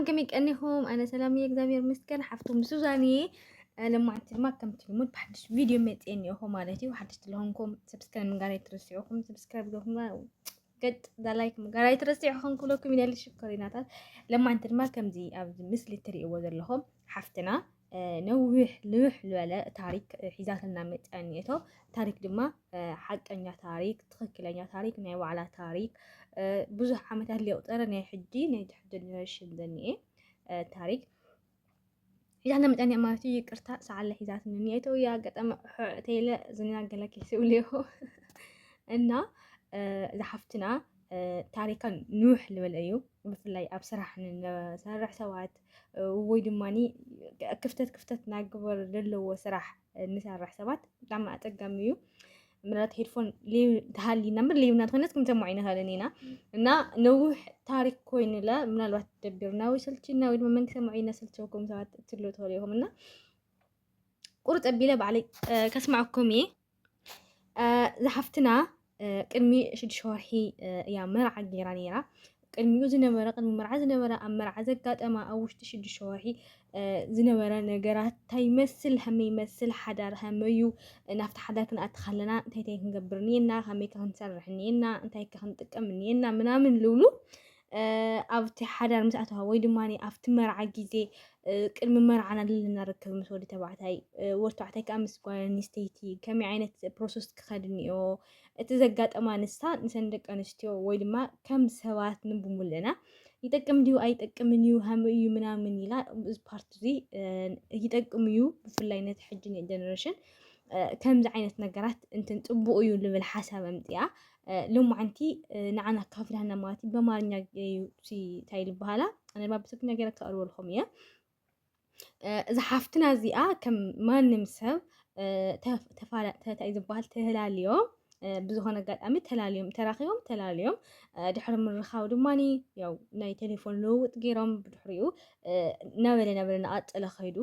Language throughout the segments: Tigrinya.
ከምይ ቀኒኹም ኣነ ሰላም እየ እግዚኣብሔር ይመስገን ሓፍቶም ሱዛን እየ ለማዓንቲ ድማ ከምቲ ልሙድ ብሓድሽ ቪድዮ መፅየ እኒኦኹ ማለት እዩ ሓድሽ ስለሆንኩም ሰብስክራይብ ምግባር ኣይትረስዑኹም ሰብስክራይብ ገኹም ገጥ ዛላይክ ምግባር ኣይትረስዑኹም ክብለኩም ይደሊ ሽኮሪናታት ለማዓንቲ ድማ ከምዚ ኣብዚ ምስሊ እትርእይዎ ዘለኹም ሓፍትና ነዊሕ ልውሕ ዝበለ ታሪክ ሒዛትና መፅያ እኒኤቶ ታሪክ ድማ ሓቀኛ ታሪክ ትክክለኛ ታሪክ ናይ ባዕላ ታሪክ ብዙሕ ዓመታት ሊቁፀረ ናይ ሕጂ ናይ ትሕጂ ጀነሬሽን ዘኒኤ ታሪክ ሒዛትና መፅያ እኒኣ ማለት እዩ ይቅርታ ሰዓለ ሒዛትና እኒኤቶ እዩ ኣጋጣሚ ሕዕተይለ ዝናገለኪ ስብልዮ እና ዝሓፍትና ታሪከን ንውሕ ልበለ እዩ ብፍላይ ኣብ ስራሕ ንሰርሕ ሰባት ወይ ድማ ክፍተት ክፍተት ናግበር ዘለዎ ስራሕ ንሰርሕ ሰባት ብጣዕሚ ኣፀጋሚ እዩ ምናልባት ሄድፎን ተሃሊና ምር ሌብና ትኾነት ክንሰማዕ ይንኸልን ኢና እና ነውሕ ታሪክ ኮይንለ ምናልባት ደቢርና ወይ ሰልችና ወይ ድማ መን ክሰምዖ ኢና ሰልቸውኩም ሰባት ትብሉ ትኽእሉ ኢኹም እና ቁርጥ ኣቢለ ባዕለይ ከስማዕኩም እየ ዝሓፍትና ቅድሚ ሽዱሽተ ወርሒ እያ መርዓ ገይራ ነይራ ቅድሚኡ ዝነበረ ቅድሚ መርዓ ዝነበረ ኣብ መርዓ ዘጋጠማ ኣብ ውሽጢ ሽዱሽተ ወርሒ ዝነበረ ነገራት እንታይ ይመስል ከመይ ይመስል ሓዳር ከመዩ ናብቲ ሓዳር ክንኣቲ ከለና እንታይ እንታይ ክንገብር እኒኤና ከመይ ክንሰርሕ እኒኤና እንታይ ክንጥቀም እኒኤና ምናምን ልብሉ ኣብቲ ሓዳር ምስ ኣተዋ ወይ ድማ ኣብቲ መርዓ ግዜ ቅድሚ መርዓ ናለለና ርክብ ምስ ወዲ ተባዕታይ ወዲ ተባዕታይ ከዓ ምስ ጓል ኣንስተይቲ ከመይ ዓይነት ፕሮሰስ ክኸድ እኒኦ እቲ ዘጋጠማ ንሳ ንሰን ደቂ ኣንስትዮ ወይ ድማ ከም ሰባት ንብሙልና ይጠቅም ድዩ ኣይጠቅምን እዩ ሃም እዩ ምናምን ኢላ እዚ ፓርቲ እዚ ይጠቅም እዩ ብፍላይ ነቲ ሕጂ ጀነሬሽን ከምዚ ዓይነት ነገራት እንትን ፅቡቅ እዩ ልብል ሓሳብ ኣምፅኣ ሎማዓንቲ ንዓና ኣካፍልሃና ማለት እዩ በማርኛ እዩ እንታይ ዝበሃላ ኣነ ድማ ብትግርኛ ገይረ ከቕርበልኩም እየ እዛ ሓፍትና እዚኣ ከም ማንም ሰብ እንታይ ዝበሃል ተላልዮም ብዝኾነ ኣጋጣሚ ተላልዮም ተራኺቦም ተላልዮም ድሕሪ ምርኻብ ድማ ያው ናይ ቴሌፎን ልውውጥ ገይሮም ብድሕሪኡ ነበለ ነበለ ናቐፀለ ከይዱ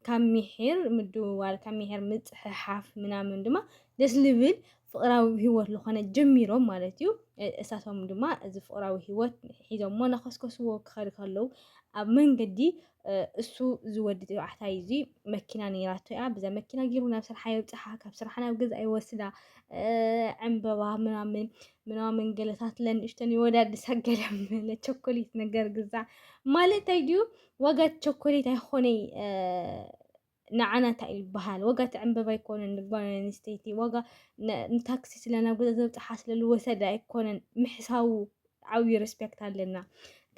ካብ ሚሒር ምድውዋል ካብ ሚሒር ምጽሕሓፍ ምናምን ድማ ደስ ልብል ፍቕራዊ ህይወት ዝኾነ ጀሚሮም ማለት እዩ። እሳቶም ድማ እዚ ፍቕራዊ ህይወት ሒዞሞ ናኸስከስዎ ክኸዱ ከለዉ ኣብ መንገዲ እሱ ዝወዲ ተባዕታይ እዚ መኪና ነይራቶ እያ ብዛ መኪና ገይሩ ናብ ስርሓ የብጽሓ ካብ ስርሓ ናብ ገዛ ይወስዳ ዕምበባ ምናምን ምናምን ገለታት ለንእሽተን ይወዳድሳ ገለ ቸኮሌት ነገር ግዛ ማለት ኣይድዩ ዋጋ ቸኮሌት ኣይኾነይ ንዓና እንታይ እዩ ዝበሃል ዋጋ እቲ ዕምበባ ኣይኮነን ንጓል ኣንስተይቲ ዋጋ ንታክሲ ስለ ናብ ገዛ ዘብፅሓ ስለ ዝወሰደ ኣይኮነን ምሕሳቡ ዓብዩ ሬስፔክት ኣለና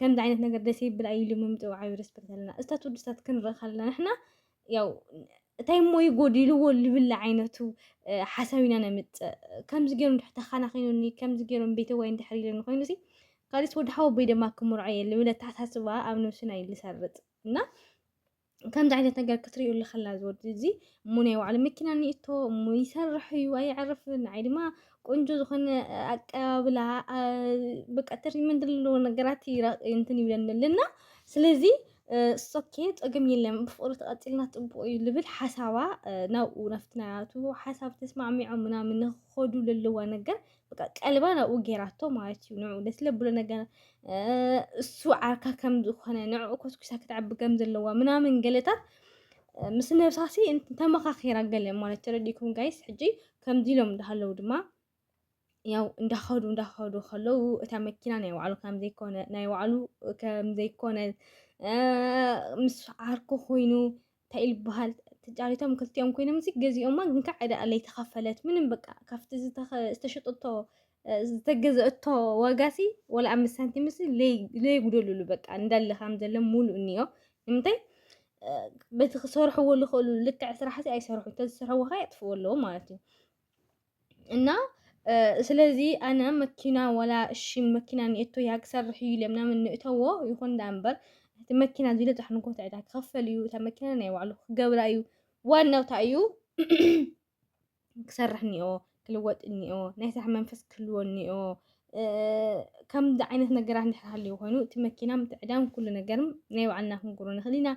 ከምዚ ዓይነት ነገር ደስ ይብል ኣይሉ ምምፅኡ ዓብዩ ሬስፔክት ኣለና እስታት ውድስታት ክንርኢ ከለና ንሕና ያው እንታይ እሞ እዩ ጎዲልዎ ልብል ዓይነቱ ሓሳብ ኢና ነምፅእ ከምዚ ገይሩ እንድሕር ተኻናኺኑኒ ከምዚ ገይሮም ቤተዋይ እንድሕር ኢለኒ ኮይኑ ሲ ካልስ ወዲ ሓወቦይ ደማ ክምርዖ እየ ልብል ኣተሓሳስባ ኣብ ነብስና እዩ ዝሰርፅ እና ከምዚ ዓይነት ነገር ክትሪኡ ኣለኸላ ዝወዲ እዚ እሞ ናይ ባዕሉ መኪና ኒእቶ እሞ ይሰርሕ እዩ ኣይዕርፍን ንዓይ ድማ ቆንጆ ዝኾነ ኣቀባብላ በቃ ትሪትመንት ዘለዎ ነገራት እንትን ይብለንል እና ስለዚ ሶኬ ፀገም የለን ብፍቅሪ ተቐፂልና ፅቡቅ እዩ ልብል ሓሳባ ናብኡ ናብቲ ናቱ ሓሳብ ተስማዕሚዖም ምናምን ንክኸዱ ለለዋ ነገር በቃ ቀልባ ናብኡ ጌራቶ ማለት እዩ ንዑ ደስ ለብሎ ነገር እሱ ዓርካ ከም ዝኾነ ንዑ ኮስኩሳ ክትዕቢ ከም ዘለዋ ምናምን ገለታት ምስ ነብሳሲ ተመኻኺራ ገለ ማለት ተረዲእኩም ጋይስ ሕጂ ከምዚ ኢሎም እንዳሃለዉ ድማ ያው እንዳኸዱ እንዳኸዱ ከለዉ እታ መኪና ናይ ባዕሉ ከምዘይኮነ ናይ ባዕሉ ከምዘይኮነ ምስ ዓርኩ ኮይኑ እንታይ ኢሉ በሃል ተጫሪቶም ክልቲኦም ኮይኖም እዚ ገዚኦማ ግን ከዓ ዕዳ ኣለይ ተኸፈለት ምንም በቃ ካብቲ ዝተሸጠቶ ዝተገዘአቶ ዋጋሲ ወላ ኣምስት ሳንቲምሲ ለይጉደሉሉ በቃ እንዳለ ከም ዘሎ ሙሉእ እኒኦ ንምንታይ በቲ ክሰርሕዎ ዝኽእሉ ልክዕ ስራሕሲ ኣይሰርሑ ተዝሰርሕዎ ከ የጥፍኡ ኣለዎ ማለት እዩ እና ስለዚ ኣነ መኪና ወላ እሺ መኪና ንእቶ እያ ክሰርሕ እዩ ኢሎም ናምን ንእተዎ ይኹን ዳ እምበር እቲ መኪና ዝልጥሕ ንጎት ዕዳ ክኸፈል እዩ እታ መኪና ናይ ባዕሉ ክገብራ እዩ ዋናው እንታይ እዩ ክሰርሕ እኒኦ ክልወጥ እኒኦ ናይ ስራሕ መንፈስ ክህልዎ እኒኦ ከምዚ ዓይነት ነገራት እንድሕር ሃልዩ ኮይኑ እቲ መኪና ምትዕዳም ኩሉ ነገር ናይ ባዕልና ክንገብሮ ንኽእል ኢና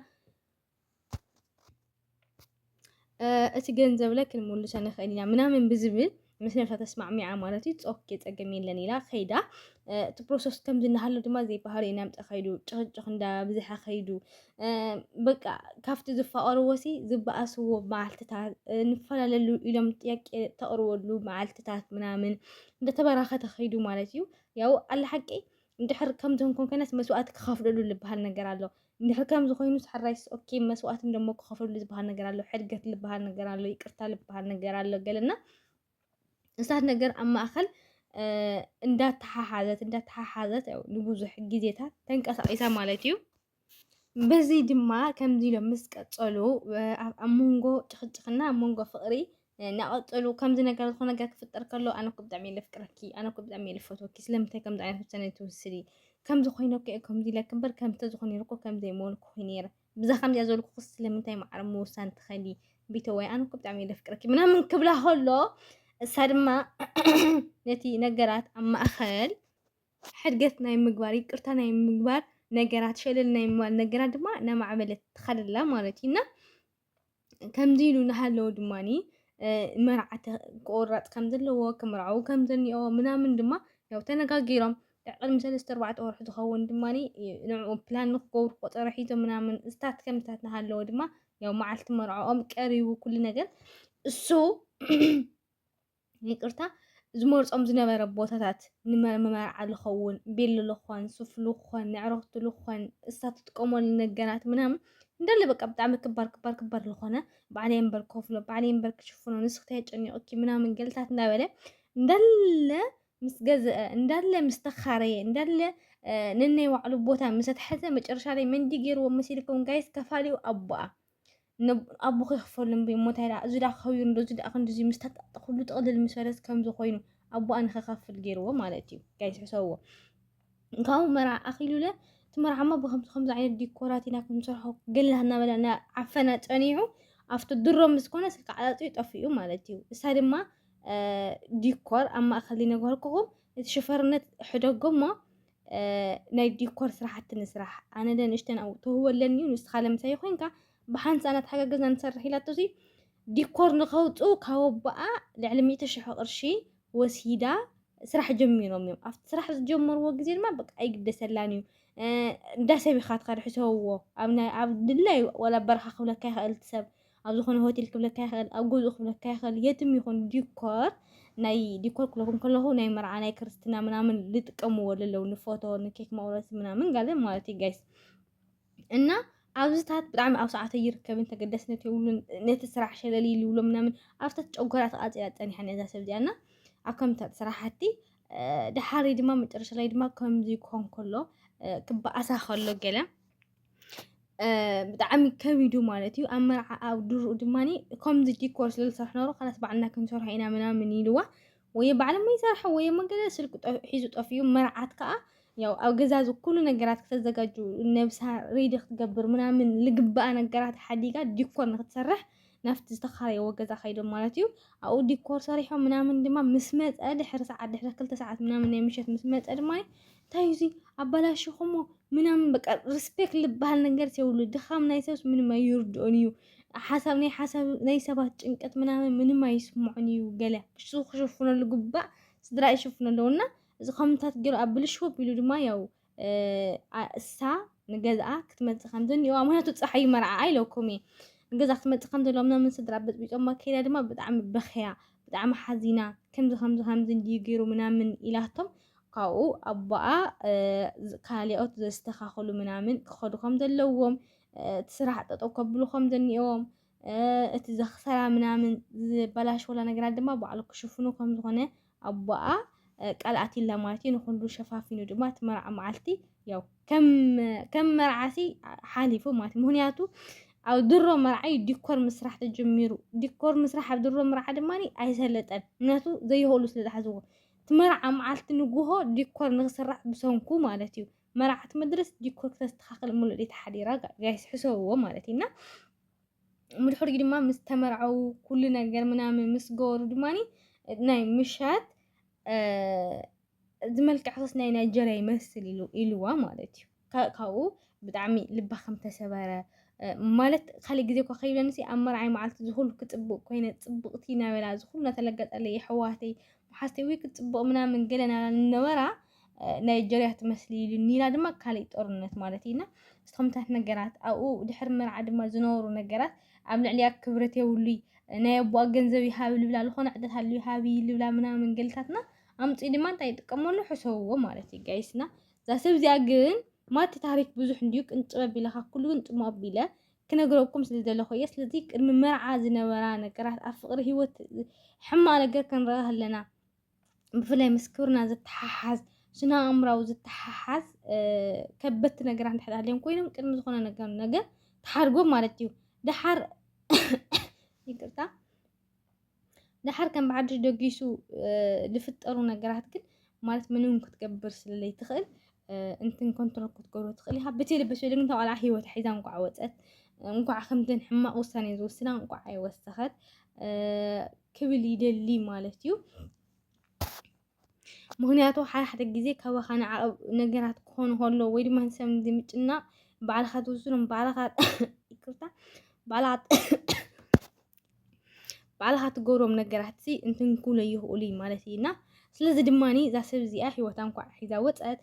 እቲ ገንዘብለ ክንምልሶ ንኽእል ኢና ምናምን ብዝብል ምስ ነብሳ ተስማዕሚዓ ማለት እዩ ፆኬ ፀገም የለን ኢላ ከይዳ እቲ ፕሮሰስ ከምዚ እናሃሉ ድማ ዘይባህሪ ኢና ምፀ ከይዱ ጭቕጭቕ እንዳ ብዝሓ ከይዱ በቃ ካብቲ ዝፋቐርዎሲ ዝበኣስዎ መዓልትታት ንፈላለሉ ኢሎም ጥያቄ ተቕርበሉ መዓልትታት ምናምን እንደተበራኸተ ከይዱ ማለት እዩ ያው ኣላ ሓቂ እንድሕር ከምዞም ኮንኮናት መስዋእቲ ክኸፍለሉ ዝበሃል ነገር ኣሎ እንድሕር ከምዚ ኮይኑ ሰሕራይስ ኦኬ መስዋእቲ ደሞ ክኸፍለሉ ዝበሃል ነገር ኣሎ ሕድገት ዝበሃል ነገር ኣሎ ይቅርታ ዝበሃል ነገር ኣሎ ገለና እሳት ነገር ኣብ ማእኸል እንዳተሓሓዘት እንዳተሓሓዘት ንብዙሕ ግዜታት ተንቀሳቒሳ ማለት እዩ በዙይ ድማ ከምዙይ ኢሎም ምስ ቀፀሉ ኣብ መንጎ ጭኽጭኽና ኣብ መንጎ ፍቕሪ እናቐፀሉ ከምዚ ነገር ዝኾነ ነገር ክፍጠር ከሎ ኣነ እኮ ብጣዕሚ እየ ለፍቅረኪ ኣነ እኮ ብጣዕሚ እየ ልፈትወኪ ስለምንታይ ከምዚ ዓይነት ውሳነ ትውስዲ ከምዚ ኮይነ እኮ እየ ከምዚ ኢለኪ እምበር ከምዚ ተዝኾነ ነይሩ እኮ ከምዚ ኣይምበልኩ ኮይኑ ነይረ ብዛ ከምዚኣ ዘልኩ ስለምንታይ ማዕረ ምውሳን ትኸሊ ቢተወይ ኣነ እኮ ብጣዕሚ እየ ለፍቅረኪ ምናምን ክብላ ከሎ እሳ ድማ ነቲ ነገራት ኣብ ማእኸል ሕድገት ናይ ምግባር ይቅርታ ናይ ምግባር ነገራት ሸለል ናይ ምባል ነገራት ድማ እናማዕበለት ትኸድ ኣላ ማለት እዩ እና ከምዚ ኢሉ እናሃለወ ድማኒ መርዓተ ክቆረፅ ከም ዘለዎ ክምርዓው ከም ዘኒኦ ምናምን ድማ ያው ተነጋጊሮም ቅድሚ ሰለስተ ኣርባዕተ ወርሒ ዝኸውን ድማ ንዕኡ ፕላን ንክገብሩ ቆፀሮ ሒዞም ምናምን እስታት ከምታት እናሃለወ ድማ ያው መዓልቲ መርዕኦም ቀሪቡ ኩሉ ነገር እሱ ይቅርታ ዝመርጾም ዝነበረ ቦታታት ንመርዓሉ ክኸውን ቤልሉ ክኾን ሱፍሉ ክኾን ንዕረኽትሉ ክኾን እሳ ትጥቀመሉ ነገራት ምናምን እንዳለ በቃ ብጣዕሚ ክባር ክባር ክባር ዝኾነ ባዕለይ እምበር ከፍሎ ባዕለይ እምበር ክሽፍኖ ንስኽቲ ያጨኒቕኪ ምናምን ገልታት እንዳበለ እንዳለ ምስ ገዝአ እንዳለ ምስ ተኻረየ እንዳለ ነናይ ባዕሉ ቦታ ምስ ኣትሐዘ መጨረሻ ላይ መንዲ ገይርዎ መሲልኩም ጋይስ ከፋሊኡ ኣቦኣ ኣቦ ከይክፈሉ እምበይ እሞ እንታይ ደኣ እዚ ደኣ ክኸብር እንዶ እዚ ደኣ ክንድዚ ምስ ተጣጠኹሉ ጥቕልል ምስ በለት ከምዚ ኮይኑ ኣቦኣ ንኸካፍል ገይርዎ ማለት እዩ ጋይስ ሕሰብዎ ካብኡ መርዓ ኣኺሉለ እቲ መርዓማ ብከምዚ ከምዚ ዓይነት ዲኮራት ኢና ክንሰርሖ ገላ እናበለ ዓፈና ጸኒዑ ኣብቲ ድሮ ምስ ኮነ ስልኪ ዓጣጥኡ ጠፊኡ ማለት እዩ እሳ ድማ ዲኮር ኣብ ማእከል ይነገርኩኹም እቲ ሽፈርነት ሕደጎ እሞ ናይ ዲኮር ስራሕቲ ንስራሕ ኣነ ለንእሽተን ኣብኡ ተህቦ ኣለኒ እዩ ንስኻ ለምሳይ ኮይንካ ብሓንሳ እናተሓጋገዝና ንሰርሕ ኢላቶሲ ዲኮር ንኸውፅኡ ካብ ኣቦኣ ልዕሊ ሚእቲ ሽሕ ቅርሺ ወሲዳ ስራሕ ጀሚሮም እዮም ኣብቲ ስራሕ ዝጀመርዎ ግዜ ድማ በቃ ኣይግደሰላን እዩ እንዳ ሰብ ኢኻ ትኸድ ሕሰብዎ ኣብ ድላይ ወላ በረኻ ክብለካ ይኽእል ሰብ ኣብ ዝኾነ ሆቴል ክብለካ ይኽእል፣ ኣብ ገዝኡ ክብለካ ይኽእል፣ የትም ይኹን ዲኮር ናይ ዲኮር ክለኹም ከለኹ ናይ መርዓ ናይ ክርስትና ምናምን ልጥቀምዎ ለለው ንፎቶ ንኬክ መቁረሲ ምናምን ጋለ ማለት እዩ ጋይስ እና ኣብዝታት ብጣዕሚ ኣብ ሰዓተ ይርከብን ተገዳስነት የብሉን ነቲ ስራሕ ሸለል ይልብሎ ምናምን ኣብታት ጨጎራ ተቃፂላ ፀኒሓን እዛ ሰብ እዚኣ እና ኣብ ከምታት ስራሕቲ ድሓሪ ድማ መጨረሻ ላይ ድማ ከምዚ ክኾን ከሎ ክበኣሳ ከሎ ገለ ብጣዕሚ ከቢዱ ማለት እዩ ኣብ መርዓ ኣብ ድርኡ ድማ ከምዚ ዲኮር ስለ ዝሰርሕ ነበሩ ካላስ ባዕልና ክንሰርሖ ኢና ምናምን ኢልዋ ወይ ባዕሎም ይሰርሑ ወይ መገለ ስልኪ ሒዙ ጠፍኡ መርዓት ከዓ ያው ኣብ ገዛ ዝኩሉ ነገራት ክተዘጋጁ ነብሳ ሬዲ ክትገብር ምናምን ልግበኣ ነገራት ሓዲጋ ዲኮር ንክትሰርሕ ናብቲ ዝተኻረይዎ ገዛ ከይዶም ማለት እዩ ኣብኡ ዲኮር ሰሪሖም ምናምን ድማ ምስ መፀ ድሕሪ ሰዓት ድሕሪ ክልተ ሰዓት ምናምን ናይ ምሸት ምስ መፀ ድማ እንታይ እዩ ኣባላሽኹሞ ምናምን በቃ ሪስፔክት ልበሃል ነገር የብሉ ድኻም ናይ ሰብስ ምንም ኣይርድኦን እዩ ሓሳብ ናይ ሓሳብ ናይ ሰባት ጭንቀት ምናምን ምንም ኣይስምዖን እዩ ገለ እሱ ክሽፍነሉ ግባእ ስድራ ይሽፍነሉ እና እዚ ከምታት ገይሩ ኣብ ብልሽው ኣቢሉ ድማ ያው እሳ ንገዝኣ ክትመፅእ ከም ዝኒኦዋ ምክንያቱ ፀሓይ መርዓኣ ኢለኩም እየ ንገዛ ክትመፅእ ከም ዘለዋ ምናምን ስድራ በፅቢፆማ ከይዳ ድማ ብጣዕሚ በኽያ ብጣዕሚ ሓዚና ከምዚ ከምዚ ከምዚ እንድዩ ገይሩ ምናምን ኢላቶም ካብኡ ኣቦኣ እ፣ ካልኦት ዘስተኻኽሉ ምናምን ክኸዱ ከም ዘለዎም እ፣ እቲ ስራሕ ጠጠው ከብሉ ከም ዘኒኦዎም እ፣ እቲ ዘኽሰራ ምናምን ዝበላሸወላ ነገራት ድማ ባዕሉ ክሽፍኑ ከም ዝኾነ ኣቦኣ ቃል ኣቲላ ማለት እዩ ንኹሉ ሸፋፊኑ ድማ እቲ መርዓ መዓልቲ ያው ከም መርዓሲ ሓሊፉ ማለት ምክንያቱ ኣብ ድሮ መርዓ እዩ ዲኮር ምስራሕ ተጀሚሩ ዲኮር ምስራሕ ኣብ ድሮ መርዓ ድማ ኣይሰለጠን ምክንያቱ ዘይኸእሉ ስለ ዝሓዝዎ እቲ መርዓ መዓልቲ ንጉሆ ዲኮር ንክስራሕ ብሰንኩ ማለት እዩ መርዓት መድረስ ዲኮር ክተስተኻኽል ሙሉእ ተሓዲራ ጋይስ ሕሰብዎ ማለት እዩ እና ምድሕሪኡ ድማ ምስ ተመርዓዉ ኩሉ ነገር ምናምን ምስ ገበሩ ድማ ናይ ምሻት ዝመልክዕክስ ናይ ናይጀርያ ይመስል ኢሉ ኢልዋ ማለት እዩ ካ- ካብኡ ብጣዕሚ ልባ ከም ተሰበረ እ፣ ማለት ካልእ ግዜ እኳ ከይብለንሲ ኣብ መርዓይ መዓልቲ ዝኹሉ ክፅብቅ ኮይነ ፅብቅቲ ናበላ ዝኹሉ እናተለገጠለይ የሕዋተይ መሓዝተይ ወይ ክፅብቅ ምናምን ገለ ናበላ ነበራ ናይጀርያ ትመስሊ ኢሉ ኒና ድማ ካልእ ጦርነት ማለት እዩ እና ዝተምታት ነገራት ኣብኡ ድሕሪ መርዓ ድማ ዝነበሩ ነገራት ኣብ ልዕሊያ ክብረት የብሉይ ናይ ኣቦኣ ገንዘብ ይሃብ ልብላ ዝኾነ ዕደት ኣሉ ይሃብ ልብላ ምናምን ገልታትና ኣምፂ ድማ እንታይ ይጥቀመሉ ሕሰብዎ ማለት እዩ ጋይስና እዛ ሰብ እዚኣ ግን ማቲ ታሪክ ብዙሕ እንድዩ ቅንጭብ ኣቢለኻ ኩሉ ግን ጥሙ ኣቢለ ክነግረኩም ስለ ዘለኹ እየ ስለዚ ቅድሚ መርዓ ዝነበራ ነገራት ኣብ ፍቅሪ ሂወት ሕማቅ ነገር ክንረኣ ኣለና ብፍላይ ምስ ክብርና ዝተሓሓዝ ስነ ኣእምራዊ ዝተሓሓዝ ከበድቲ ነገራት እንድሕር ሃልዮም ኮይኖም ቅድሚ ዝኾነ ነገር ነገር ተሓርጎም ማለት እዩ ደሓር ይቅርታ ደሓር ከም ብሓድሽ ደጊሱ ዝፍጠሩ ነገራት ግን ማለት ምንም ክትገብር ስለለይ ትኽእል እንትን ኮንትሮል ክትገብሮ ትኽእል ኢኻ ብቲ ልብስ ወይ ልምንታ ቆልዓ ሂወት ሒዛ እንኳዕ ወፀት እንኳዕ ከምተን ሕማቕ ውሳኔ ዝወስና እንኳዕ ኣይወሰኸት ክብል ይደሊ ማለት እዩ። ምክንያቱ ሓደ ሓደ ግዜ ካባኻ ንዓቐብ ነገራት ክኾኑ ከሎ ወይ ድማ ንሰብ ንምጭናቕ ባዕልኻ ትውስኖም ባዕልኻ ይቅርታ ባዕልኻ ባዕልኻ ትገብሮም ነገራት ሲ እንትንኩለ ይኽእሉ እዩ ማለት እዩ እና ስለዚ ድማ እዛ ሰብ እዚኣ ሂወታ እንኳዕ ሒዛ ወፀት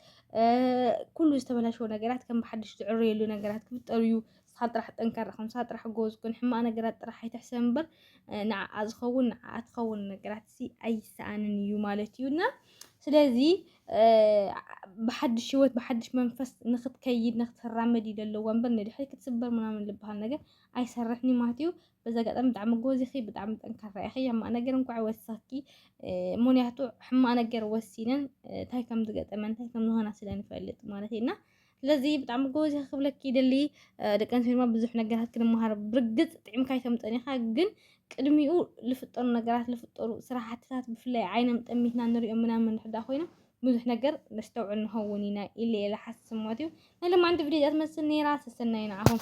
ኩሉ ዝተበላሸወ ነገራት ከም ብሓድሽ ዝዕረየሉ ነገራት ክፍጠሩ እዩ ንስኻ ጥራሕ ጠንካራ ኩን፣ ንስኻ ጥራሕ ጎበዝ ኩን፣ ሕማቕ ነገራት ጥራሕ ኣይትሕሰብ እምበር ንዓኣ ዝኸውን ንዓኣ ትኸውን ነገራትሲ ኣይሰኣንን እዩ ማለት እዩ እና ስለዚ ብሓድሽ ህይወት ብሓድሽ መንፈስ ንክትከይድ ንክትራመድ እዩ ዘለዎ እምበር ንድሕሪ ክትስበር ምናምን ዝበሃል ነገር ኣይሰርሕን እዩ ማለት እዩ። በዚ ኣጋጣሚ ብጣዕሚ ጎበዝ ኢኺ፣ ብጣዕሚ ጠንካራ ኢኺ። ሕማቕ ነገር እንኳዕ ወሰኽኪ፣ ምክንያቱ ሕማቕ ነገር ወሲነን እንታይ ከም ዝገጠመን እንታይ ከም ዝኾና ስለ ንፈልጥ ማለት እዩ እና ስለዚ ብጣዕሚ ጎበዝ ኢኻ ክብለኪ ይደሊ ደቂ ኣንስትዮ ድማ ብዙሕ ነገራት ክንመሃር ብርግፅ ጥዕምካ ኣይተምፀን ኢኻ ግን ቅድሚኡ ዝፍጠሩ ነገራት ዝፍጠሩ ስራሕትታት ብፍላይ ዓይኖም ጠሚትና ንሪኦም ምናምን ሕዳ ኮይኖም ብዙሕ ነገር ነስተውዕል ንኸውን ኢና ኢለ ኢለ ሓስብ ማለት እዩ ናይ ሎማዓንቲ ቪድዮ እዚኣ ትመስል ነይራ ሰሰናዩ ንዓኹም